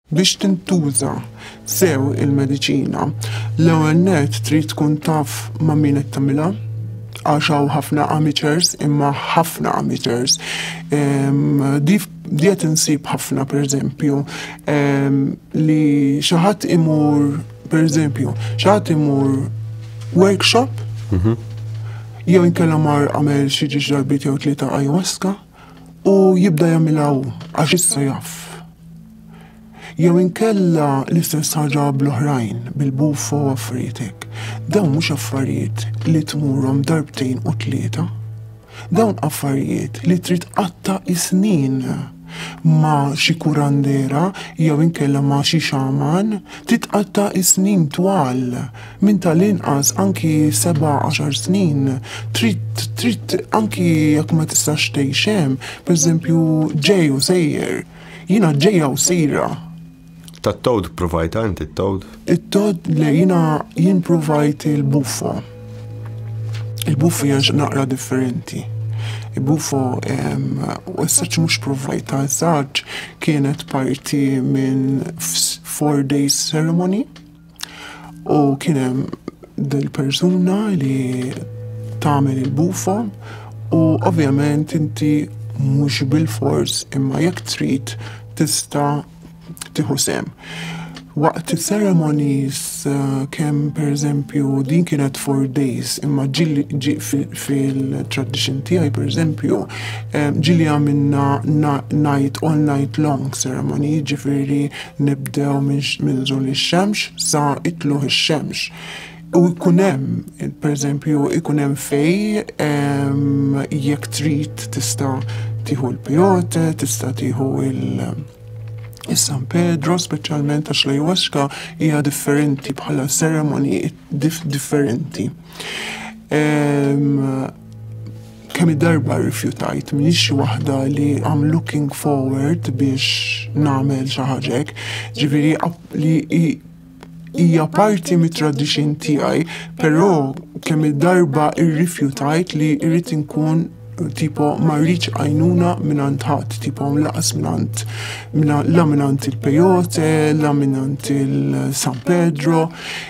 Biex tintuża sew il-mediċina, l-ewwel nett trid tkun taf ma' min qed tagħmilha għax hawn ħafna amateurs imma ħafna amateurs. Ehm, di qed insib ħafna pereżempju ehm, li xi ħadd imur pereżempju xi ħadd imur workshop mhm. jew inkella mar għamel xi ġiġ darbit jew tlieta ayahuasca u jibda jagħmilha hu għax issa jaf. Jew inkella l-istess ħaġa bl-oħrajn, bil-bufo u affarijiet hekk. Dawn mhux affarijiet li tmurhom darbtejn u tlieta. Dawn affarijiet li trid qatta' is-snin ma' xi kurandera jew inkella ma' xi xaman titqatta' is-snin twal minn tal-inqas anki seba' għaxar snin, trid trid anki jekk ma tistax tgħix hemm, pereżempju ġej u sejjer, jiena ġejja u sejra. Tat-tod provajta inti t-tod? It-tod le jiena jien provajt il-buffo. Il-buffo hija naqra differenti. Il-buffo u s-saċ mhux provajta, s-saċ kienet parti minn four days ceremony U kien hemm dil-persuna li tagħmel il-bufo u ovvjament inti mhux bil-fors imma jekk trid tista' tieħu sem. Waqt is-ceremonies eh, kemm pereżempju din kienet four days imma ġili ġi fil-tradition tiegħi pereżempju eh, ġili għamilna night all night long ceremony ġifieri nibdew minn żul ix-xemx sa itluħ ix-xemx. U jkun hemm, pereżempju, jkun hemm fej jekk trid tista' tieħu l-pijote, tista' tieħu il- Is-San Pedro, speċjalment għax l-Iwaxka hija differenti bħala seremoni differenti. Kemm darba rrifjutajt, m'iniex xi waħda li I'm looking forward biex nagħmel xi ħaġa hekk, ġifieri li hija parti mit-tradixin tiegħi, però kemm il-darba rrifjutajt li rrid inkun tipo ma rridx għajnuna minn għand ħadd, tipo laqas minn għand la minn għand il-Pejote, la minn għand il-San Pedro.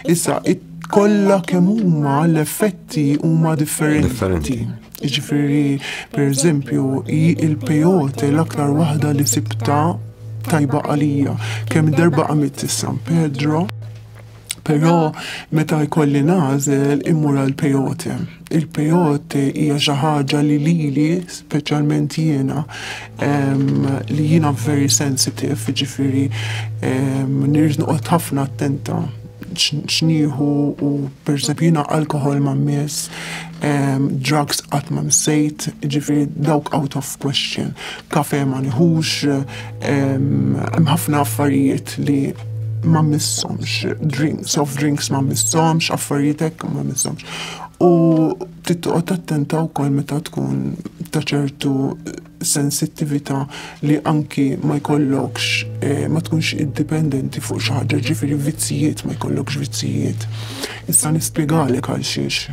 Issa kollha kemm huma l-effetti huma differenti. Jiġifieri, pereżempju, hi l-peyote l-aktar waħda li sibta tajba għalija. Kemm darba għamilt is-San Pedro, però meta jkolli nagħżel immur għall-peyote. Il-peyote hija xi ħaġa li lili, speċjalment jiena, li jiena very sensitive, jiġifieri nirrid noqgħod ħafna attenta x'nieħu u pereżempju jiena alkoħol ma mmiss, drugs qatt ma missejt, jiġifieri dawk out of question. Kafe ma nieħux, Hemm ħafna affarijiet li ma missomx, drink, soft drinks ma missomx, affarijiet hekk ma missomx. U tittoqgħod attenta wkoll meta tkun ta' ċertu sensittività li anki ma jkollokx eh, ma tkunx indipendenti fuq xi ħaġa, ġifieri vizzijiet ma jkollokx vizzijiet. Issa nispjegalek għal xiex.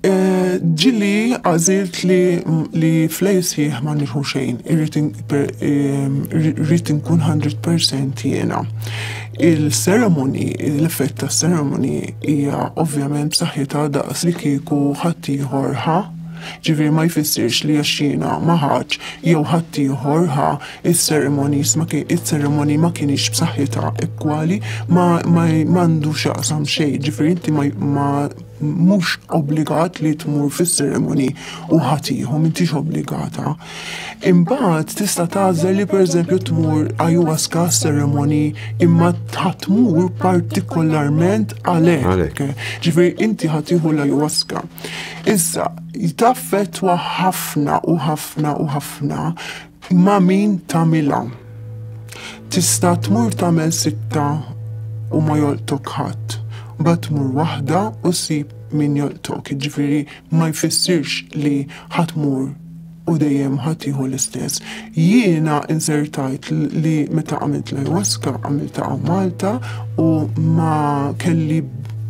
Ġili għażilt li li flejsieħ ma nirħu xejn, irrid inkun 100% jiena. Il-ceremony, l-effett ta' ceremony hija ovvjament b'saħħitha daqs li kieku ħaddieħor ħa, ġifieri ma jfissirx li għax jiena ma ħadtx jew ħaddieħor ħa is-ceremonies ma is-ceremony ma kinitx b'saħħitha igwali ma għandu x'jaqsam xejn, ġifieri inti ma mhux obbligat li tmur fis-seremoni u ħatiħu m'intix obbligata. Imbagħad tista' tagħżel li pereżempju tmur ayahuasca seremoni imma tmur partikolarment għalhekk. Ġifieri inti ħatiħu l-ayahuasca. Issa, taffettwa ħafna u ħafna u ħafna Ma' min tagħmilha? Tista' tmur tagħmel sitta u ma jolqtok ħadd, mbagħad tmur waħda u ssib min jolqtok, jiġifieri ma jfissirx li ħa tmur u dejjem ħa tieħu l-istess. Jiena insertajt li meta għamilt l-ayahuasca għamilta hawn Malta u ma kelli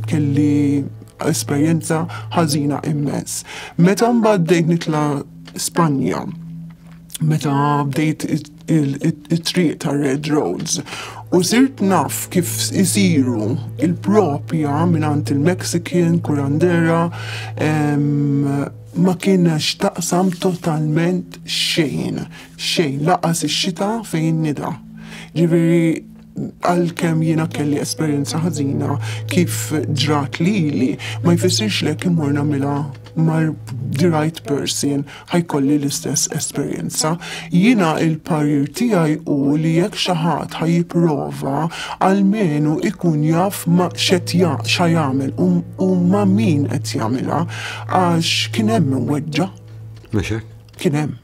kelli esperjenza ħażina immens. Meta mbagħad bdejt nitla' Spanja meta bdejt it-triq ta' Red Roads u sirt naf kif isiru il-propja minant il-Mexican, kurandera, ma kiena xtaqsam totalment xejn, xejn, laqas ix-xita fejn nida. Ġifiri, għalkemm jiena kelli esperjenza ħażina kif ġrat lili, ma jfissirx li jekk immur nagħmilha mar the right person ħajkolli l-istess esperjenza. Jiena il-parir tiegħi u li jekk xi ħadd ħajjipprova għalmenu ikun jaf ma xed xa jagħmel u ma min qed jagħmilha għax kien hemm weġġa. Kien hemm.